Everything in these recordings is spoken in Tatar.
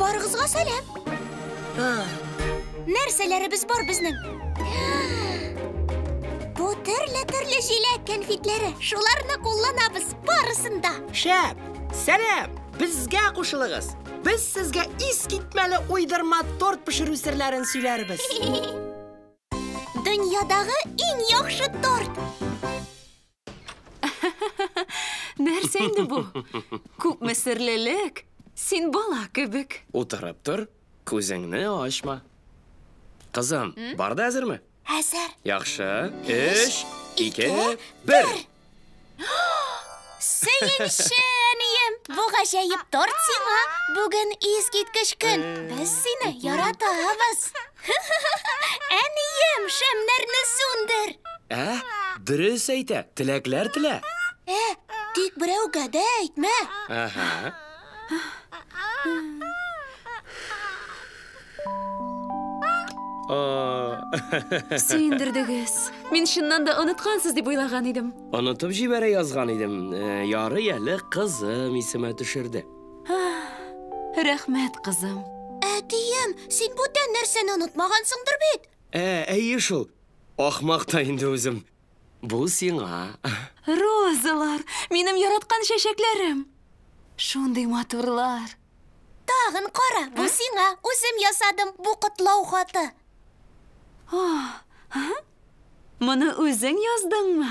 Барыгызга сәлам. Нәрсәләребез бар безнең? Бу төрле-төрле җиләк кәнфитләре. Шуларны кулланабыз барысын да. Шәп! Сәлам! Безгә кушылыгыз. Без сезгә искитмәле уйдырма торт пешерү серләрен сөйләрбез. Дөньядагы иң яхшы торт. Нәрсә инде бу? Күпме серлелек! Син бала кебек. Утырып тор, күзеңне ачма. Кызым, бар да әзерме? Әзер. Яхшы. Өч, ике, бер! Сөенче, әнием! Бу гаҗәеп торт сиңа! Бүген искиткеч көн! Без сине яратабыз! Әнием, шәмнәрне сүндер! Ә, дөрес әйтә, теләкләр телә. Ә, тик берәүгә дә әйтмә. Ага. Сөендердегез. Мин чыннан да оныткансыз дип уйлаган идем. Онытып җибәрә язган идем. Э, ярый әле кызым исемә төшерде. Рәхмәт, кызым. Әтием, син бүтән нәрсәне онытмагансыңдыр бит? Ә, әйе шул. Ахмак та инде үзем. Бу сиңа. Розалар, минем яраткан чәчәкләрем. Шундый матурлар. Тагын кара, бу сиңа. Үзем ясадым бу котлау хаты. Моны үзең яздыңмы?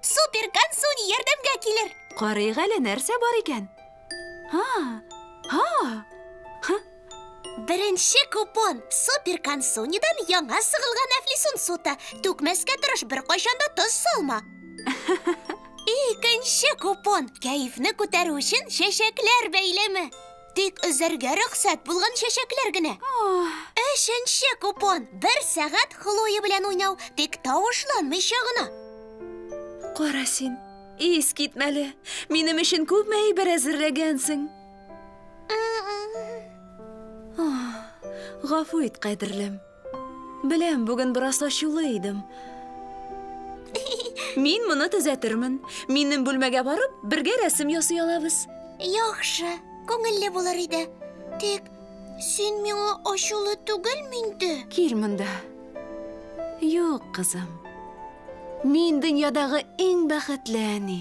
Супер консуни ярдәмгә килер. Карыйк әле нәрсә бар икән. Ха! Ха! Ха! Беренче купон супер консунидан яңа сыгылган әфлисун суты. Түкмәскә тырыш, беркайчан да тоз салма. Икенче купон кәефне күтәрү өчен чәчәкләр бәйләме. Тик өзәргә рөхсәт булган чәчәкләр генә. Өченче купон. Бер сәгать Хлоя белән уйнау, тик тавышланмыйча гына. Кара син, ис китмәле. Минем өчен күпме әйбер әзерләгәнсең. Гафу ит, кадерлем. Беләм, бүген бераз ачулы идем. Мин моны төзәтермен. Минем бүлмәгә барып, бергә рәсем ясый алабыз. Яхшы, күңелле булыр иде. Тик син миңа ачулы түгелме инде? Кил монда. Юк, кызым. Мин дөньядагы иң бәхетле әни.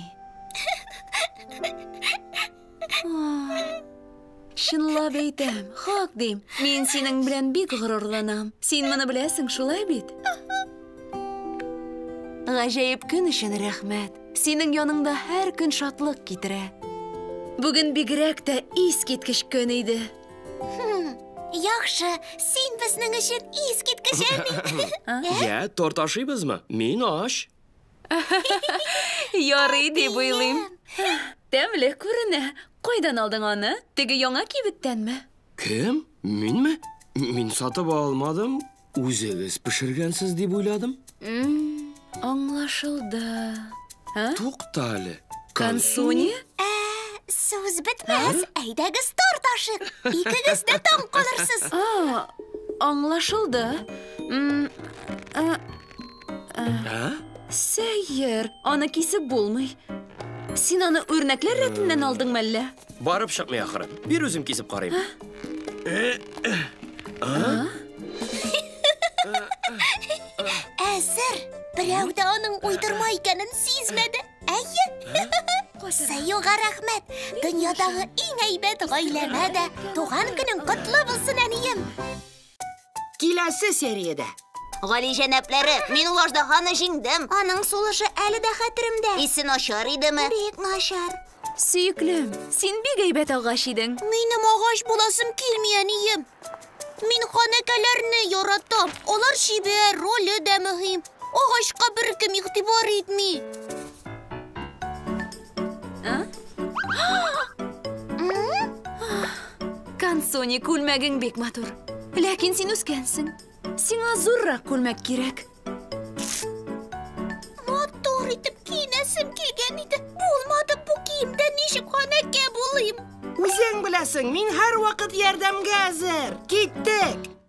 Чынлап әйтәм, хак дим. Мин синең белән бик горурланам. Син моны беләсең, шулай бит? Гаҗәеп көн өчен рәхмәт. Синең яныңда һәр көн шатлык китерә. Бүген бигрәк тә искиткеч көн иде. Яхшы, син безнең өчен искиткеч әби. Я, торт ашыйбызмы? Мин ач. Ярый дип уйлыйм. Тәмле күренә. Кайдан алдың аны? Теге яңа кибеттәнме? Кем? Минме? Мин сатып алмадым. Үзегез пешергәнсез дип уйладым. Аңлашылды. Тукта әле. Консуни? Ә, сүз бетмәс. Әйдәгез торт ашыйк. Икегез дә таң калырсыз. Аңлашылды. Сәер, аны кисеп булмый. Син аны үрнәкләр рәтеннән алдың мәллә? Барып чыкмый ахыры. Бир үзем кисеп карыйм. Әзер. Берәү дә аның уйдырма икәнен сизмәде. Әйе. Сәюга рәхмәт. Дөньядагы иң әйбәт гаиләмә дә туган көнең котлы булсын, әнием. Киләсе сериядә. Гали җәнаплары, мин ул аждаһаны җиңдем. Аның сулышы әле дә хәтеремдә. Исе начар идеме? Бик начар. Сөеклем, син бик әйбәт агач идең. Минем агач буласым килми, әнием. Мин ханәкәләрне яратам. Алар чибәр, роле дә мөһим. Агачка беркем игътибар итми. Кансони, күлмәгең бик матур. Ләкин син үскәнсең. Сиңа зуррак күлмәк кирәк. Матур итеп киенәсем килгән иде. Булмады бу киемдә ничек ханәкә булыйм? Үзең беләсең, мин һәрвакыт ярдәмгә әзер. Киттек!